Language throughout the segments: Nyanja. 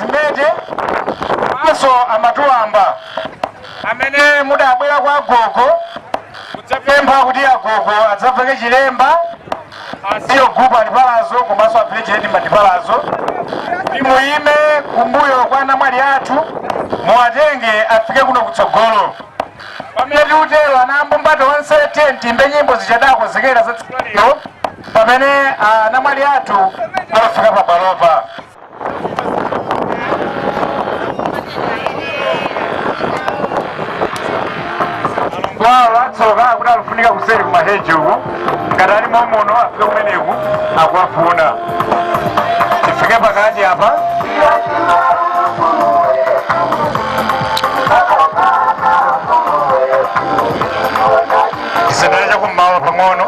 zimete komanso amatuwamba amene mudabwera kwa agogo kudzapempha kuti agogo adzaveke chilemba a senior group alipalazo komanso a village headman lipalazo muyime kumbuyo kwa anamwali athu muwatenge afike kuno kutsogolo pamene tikutero anambumba tonse tiyeni tiimbe nyimbo zija adakonzekera za tsiku lero pamene anamwali athu afika pabwalopa kwawo atsoka akuti akufunika kuseri kumaheji uko ngati ali momuno afike kumeneku akuwafuna tifike pakati apa tisendere chakummawa pang'ono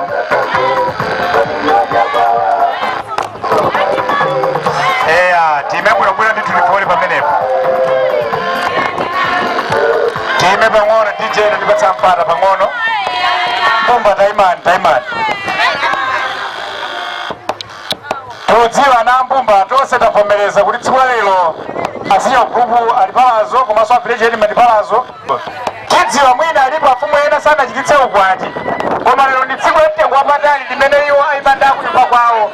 eya tiime bwinobwino ndithu tifoli pamenepo tiime pang'ono dj ndipatsa mpata pang'ono mbumba taimani taimani tikudziwa anambumba tonse tavomereza kuti tsiku la lero a senior group alipalazo komanso a village headman lipalazo tidziwa mwina alipo afumu ena sanachititse ukwati koma lero ndi tsiku la mtengo wapatali limene iwo aimanda kunyumba kwawo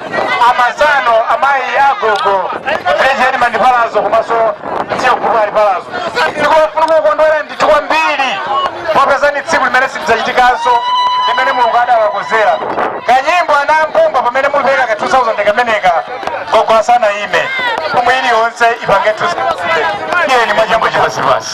amasano amayi agogo village headman lipalazo komanso senior group alipalazo ndikofuna kukondwera ndithu kwambiri popeza ni tsiku limene silidzachitikanso limene mulungu adawakonzera kanyimbo anambumba pamene mulipeka ka 2000 kameneka gogo asanaime pomwe iliyonse ipange 2000 tiyeni mwachangu chipasipasi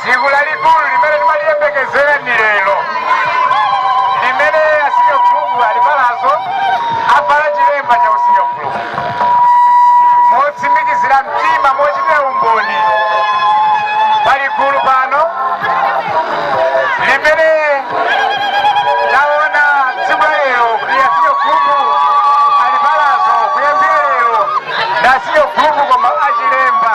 tsiku lalikulu limene timaliyembekezera ndi lero limene a senior group alipalazo avala chilemba cha usenior group motsimikizira mtima mochitira umboni pali gulu pano limene taona tsiku la lero kuti a senior group alipalazo kuyambira lero ndi a senior group koma achilemba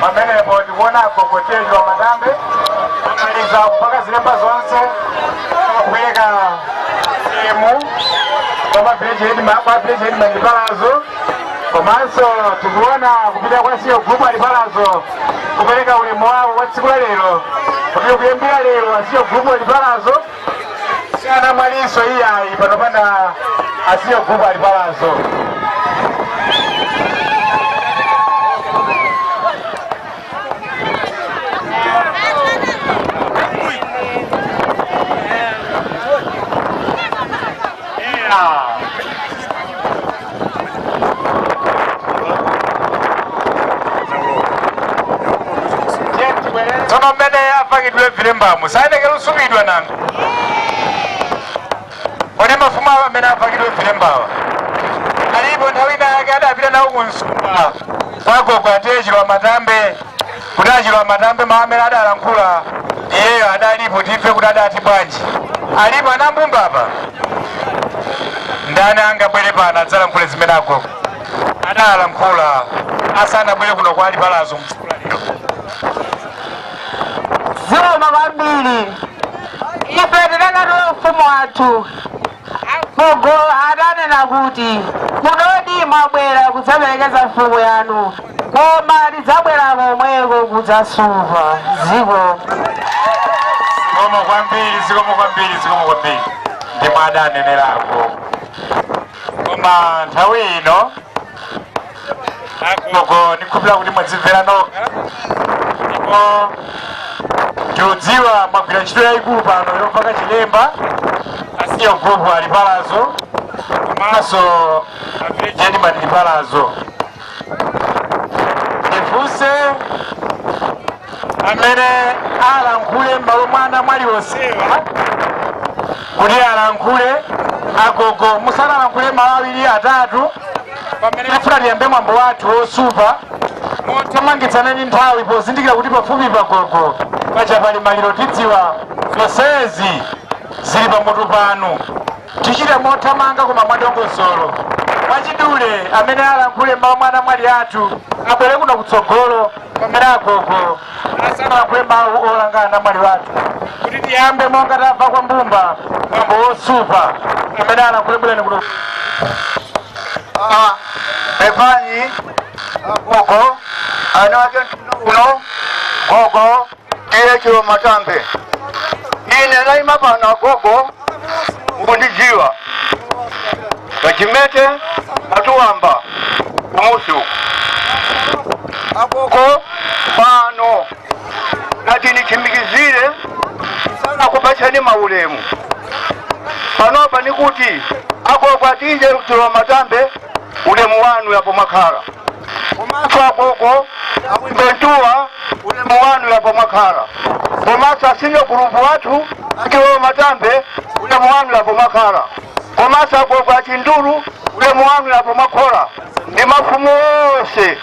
pamenepo tikuona agogo T/A chilowamatambe amaliza kupaka zilemba zonse akupereka ulemu kwa village headman kwa village headman alipalazo komanso tikuona kupita kwa senior group alipalazo kupereka ulemu wawo wa tsiku la lero kuti kuyambira lero a senior group alipalazo sianamwaliso iyayi pano pana asiye gubu ali palazo tsono mmene apakidwe vilembamu sayenekera kusupidwa nanga kodi mafumu awa amene apakidwe vilembawa alipo nthawi ina yake adapita nawo ku msumba kwa agogo a T/A chilowamatambe kuti achilowamatambe mawu amene adalankhula iyeyo adalipo timve kuti adati bwanji alipo anambumba apa ndani angabwere pano adzalankhule zimene agogo adalankhula asanabwere kuno kwa alipalazo m'tsiku la lero zikomo kwambiri ife tinakatola ufumu wathu agogo adanena kuti kunodi mwabwera kudzaperekeza mfumu yanu koma ndidzabwera komweko kudzasupa dziko zikomo kwambiri zikomo kwambiri zikomo kwambiri ndi momwe adanenerapo koma nthawi ino agogo ndikhupira kuti mwadzimvera nokha ndipo ndikudziwa mwagwira ntchito yayikulu pano yopaka chilemba a senior group alipalazo komanso a village headman alipalazo ndifunse amene alankhule m'malo mwa anamwali onsewa kuti alankhule agogo musanalankhule mawu awiri atatu pamene tifuna tiyambe mwambo wathu wosupa mothamangitsana ndi nthawi pozindikira kuti pafupi pagogo paja pali maliro tidziwa zonsezi zili pamutu panu Tichite mothamanga koma mwadongosolo. Mwachidule, amene alankhule m'malo mwa anamwali athu abwere kuno kutsogolo, pamene agogo asanalankhule mawu olanga anamwali athu. Kuti tiyambe monga tamva kwa mbumba, mwambo wosupa amene alankhule bwerani kuno. Ah, Pepani agogo, ana ake mtundu uno gogo T/A chilowamatambe ine ndayima pano agogo mukundidziwa kachimete atuwamba kumusi uku agogo pano ndati nditsimikizire akupatseni maulemu panopa nikuti agogo a T/A chilowamatambe ulemu wanu apo mwakhala komanso agogo abwimbentuwa ulemu wanu yapa mwakhala komanso asinyo gulupu wathu achilowamatambe ulemu wanu yapa mwakhala komanso agogo achindulu ulemu wanu yapa mwakhala ndi mafumu onse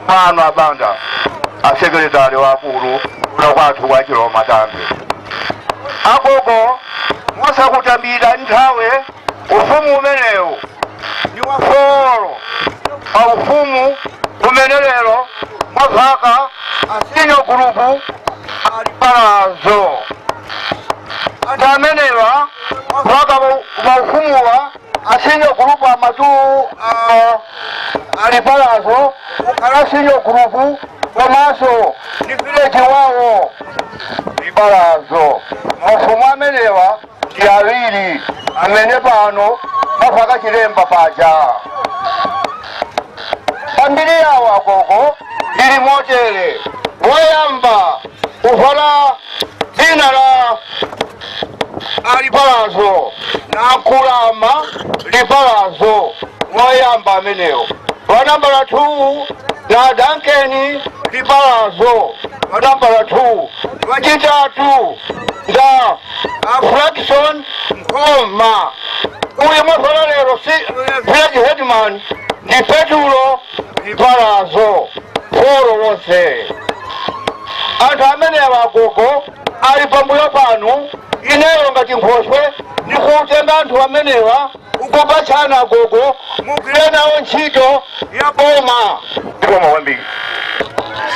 pano abanda asekretari wakulu kuno kwathu kwa chilowamatambe agogo musakutambira nthawe Ufumu umenewu ndi wa folo pa ufumu umene lero mwavala asenior group ali palazo. Anthu amenewa kwa zaka pa- pa ufumuwa asenior group amatu ah, ali palazo kukhala senior group komanso ndi village wawo ndi palazo. Mafumu amenewa ndi awiri amene pano mwavala chilemba paja pambiri yawo agogo ili motere woyamba kuvala dzina la alipalazo ndi akulama lipalazo woyamba amenewo wanambala 2 ndi a dankeni lipalazo wanambala 2 wachitatu nda a Blackson Nkhoma. Uyu mwavala lero ndi Village Headman ndi Petulo Lipalazo foro wonse. Anthu amenewa agogo ali pambuyo panu ineyo ngati nkhoswe ndikutenga anthu amenewa ndikupatsani agogo mugwire nawo ntchito ya boma zikomo kwambiri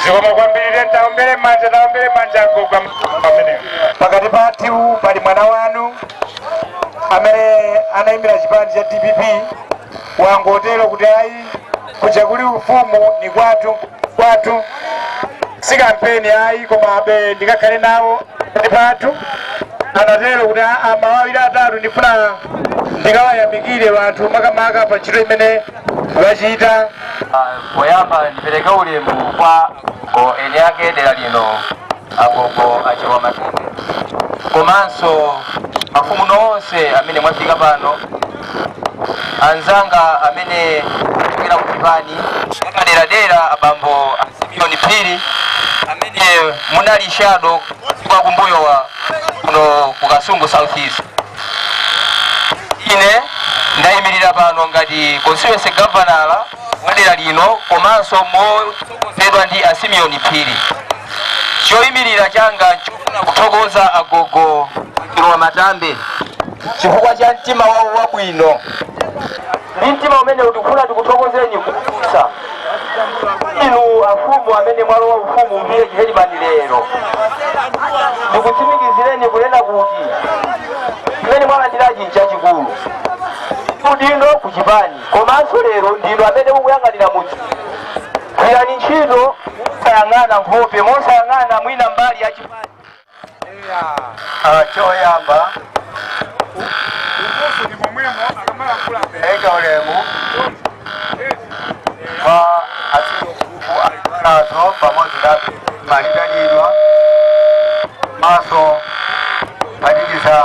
zikomo kwambiri taombere manja taombere manja agogo pamenepo pakati pathu pali mwana wanu amene anayimira chipani cha dpp wangotero kuti ayi kuja kuli ufumu ndi kwathu kwathu si kampeni ayi komabe ndikakhale nawo ndi pathu anatero kuti a mawu awiri atatu ndifuna ndikawayamikire anthu makamaka pa ntchito imene wachita poyamba ndipereke ulemu kwa agogo eni ake dera lino agogo achilowamatambe komanso mafumu nonse amene mwafika pano anzanga amene abwera ku chipani chapaderadera abambo a simeon phiri amene munali shado zaka za kumbuyo wa kuno ku kasungu south east ine ndayimirira pano ngati constituency governor wa dera lino komanso motsogozedwa ndi a Simeon Phiri. Choyimirira changa nchofuna kuthokoza a Gogo Chalo Wamatambe chifukwa cha mtima wawo wabwino ndi mtima umene ndikufuna ndikuthokozeni kusa inu afumu amene mwalowa ufumu bambo chairman lero ndikutsimikizireni kunena kuti chimene mwalandirachi nchachikulu udindo kuchipani Komanso lero ndinu amene mukuyang'anira mudzi. Gwirani ntchito mosayang'ana nkhope, mosayang'ana mwina mbali ya chipani. Ah, choyamba Ukufu ni momwemo akamalankhula mbere. eka ulemu kwa a senior chief alinazo pamodzi na oyitanidwa maso panikiza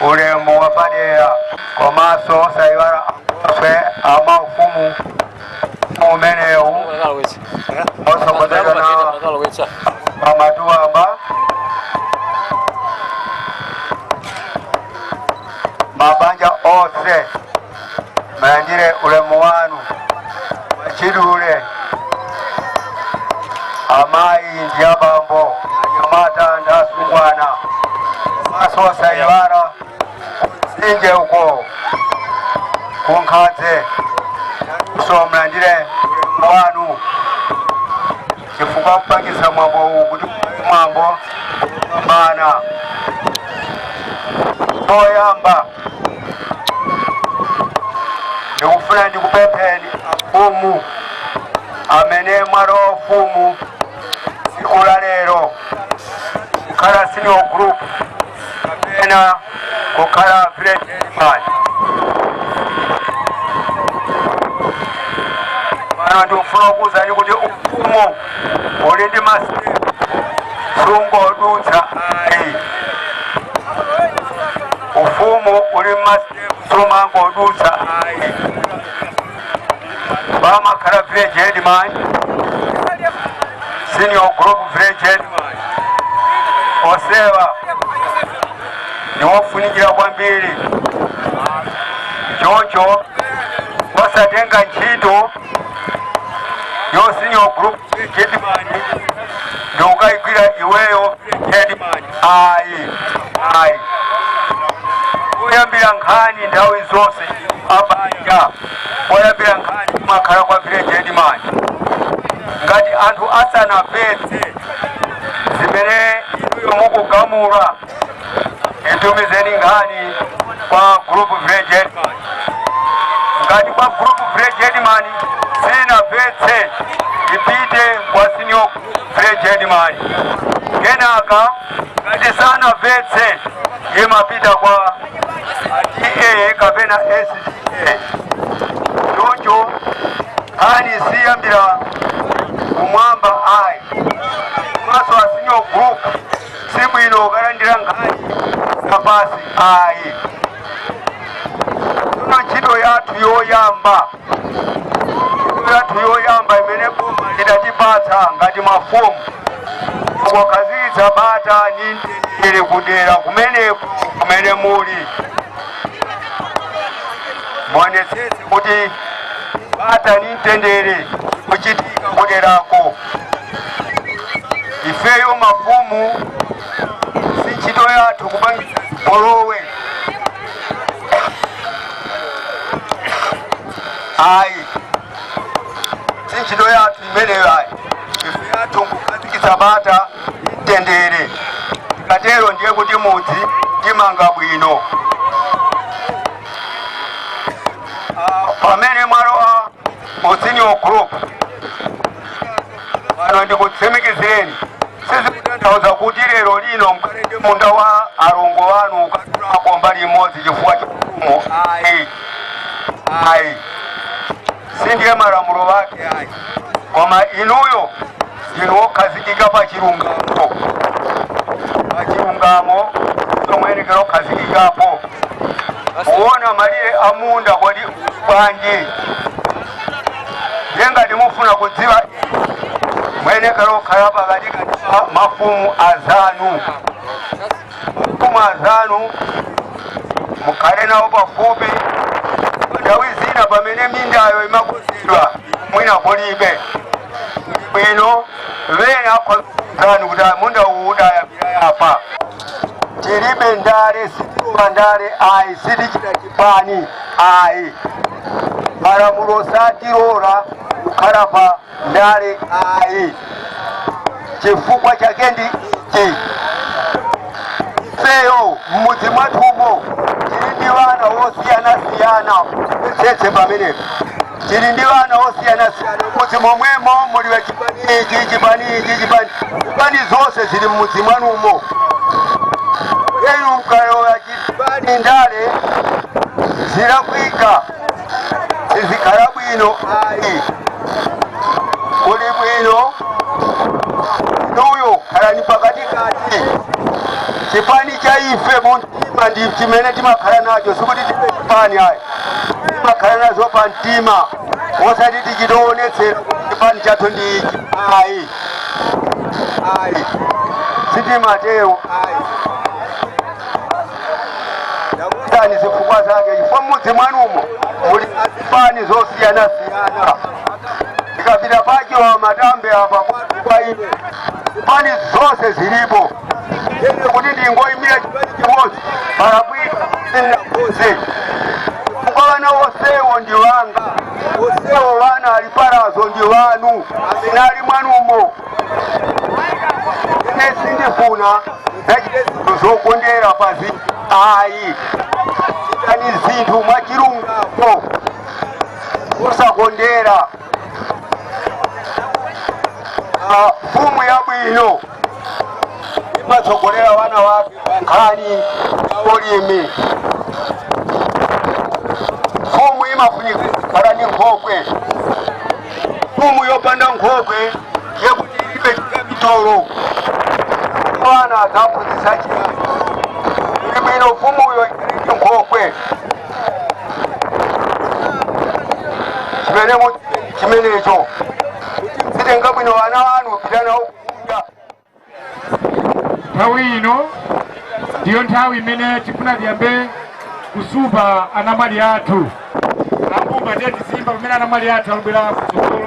ulemu wapadera komanso osayiwala ankhoswe a ufumu umenewu otsogozedwa nawo pamatuwamba mabanja onse mulandire ulemu wanu mwachidule amayi ndi abambo anyamata ndi atsikana komanso osayiwala sinje uko kunkhadze nawonso mulandire ulemu wanu chifukwa kupangitsa mwambo uwu kuti mwambo upambane poyamba ndikufuna ndikupempheni afumu amene mwalowa ufumu tsiku la lero kukhala senior group kapena kukhala village headman pano ndikufuna kukuwuzani kuti ufumu uli ndi masitepu sungodutsa ayi ufumu uli masitepu sumangodutsa ayi pamakhala village headman senior group village headman onsewa ndiwofunikira kwambiri choncho osatenga ntchito ya senior group headman nkukayigwira iweyo headman ayi ayi koyambira nkhani nthawi zonse abanja koyambira nkhani kumakhala kwa village headman ngati anthu asanapeze zimene inuyo mukugamula muitumizeni nkhani kwa group village ngati kwa group village headman sinatheke ipite kwa senior village headman kenaka ngati sinatheke imapita kwa TA kapena STA choncho nkhani siyambira kumwamba ayi makamaka a senior group Si bwino ukalandira nkhani zapansi ayi. Ndiye ntchito yathu yoyamba yathu yoyamba imene boma lidatipatsa ngati mafumu kukhazikitsa bata ndi mtendere kudera kumeneko kumene muli muonetsetse kuti bata ndi mtendere zikuchitika kuderako ifeyo mafumu si ntchito yathu kupangitsa zipolowe ayi si ntchito yathu imeneyo ayi ntchito yathu nkukhazikitsa bata ndi mtendere tikatero ndiye kuti mudzi timanga bwino pamene mwalowa u senior group pano ndikutsimikizireni sizikutanthauza kuti lero lino mukhale ndi munda wa alongo wanu mukadulako mbali imodzi chifukwa cha ufumu ayi ayi si ndiye malamulo wake ayi koma inuyo ndinu okhazikika pa chilungamo pa chilungamo mwenekera kukhazikikapo kuona malire a munda kodi bwanji ndiye ngati mufuna kudziwa mwenekera kukhala pakati kati pa mafumu azanu mafumu azanu mukhale nawo pafupi nthawi zina pamene mindayo imakonzedwa mwina kulibe bwino wena anzanu kuti munda uwu udayambira apa tilibe ndale sitilowa ndale ayi sitichita pani ayi malamulo satilora kukhala pa ndale ayi chifukwa chake ndi ichi ifeyo m'mudzi mwathumo tili ndi ana osiyanasiyana mvetsetse pamenepo tili ndi ana osiyanasiyana mudzi momwemo muli wa chipani ichi chipani ichi chipani chipani zonse zili mmudzi mwanumo inu mukalowa chipani ndale zilakwika sizikhala bwino ayi kuli bwino inuyo khalani pakatikati chipani cha ife munthu mtima ndi chimene timakhala nacho sikuti chipani ayi timakhala nazo pa mtima osati tizichitoonetsera chipani chathu ndi ichi ayi ayi sitimatero ayi ndakuuzani zifukwa zake chifukwa mmudzi mwanumo muli zipani zosiyana siyana tikapita paja amati mbe apa kwa ine zipani zonse zilipo ine kuti ndingoyimira chipani chimodzi ndalakwitsa sindinakonze chifukwa wana onsewo ndi wanga onsewo wana ali pamudzi ndi wanu amene ali mwanumo ine sindifuna muzichita zinthu zokondera pa zinthu ayi chitani zinthu mwachilungamo osakondera Ah, mfumu yabwino imatsogolera wana wake pa nkhani ya ulimi mfumu imafunika kukhala ndi nkhokwe mfumu yopanda nkhokwe ndiye kuti ilibe chikapitolo mwana adzaphunzitsa chiyani kuli bwino mfumuyo ili ndi nkhokwe chimene mu- chimenecho atenga bwino ana anu apita nawo kunyumba nthawi ino ndiyo nthawi imene tifuna tiyambe kufupa anamwali athu ambumba ndiye tiziimba pamene anamwali athu akubwera kutsogolo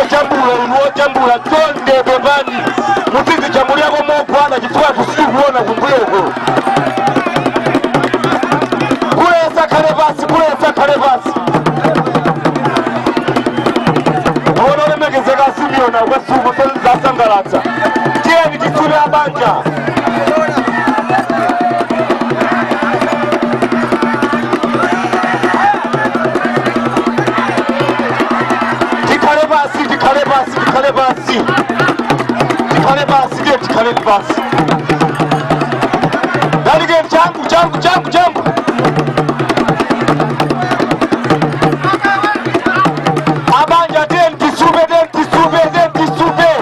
ojambula inu ojambula chonde pepani mutizijambulirako mokwana chifukwa sitikuona kumbuyoko kuleza akhale pansi kuleza akhale pansi aona olemekezeka asimiona kwasuku zasangalatsa tiyeni tifupe abanja tikhale pasi tikhale pasi tikhale pasi tikhale pasi ndiye tikhale pasi dalike changu changu changu changu abanja ten tisupe ten tisupe ten tisupe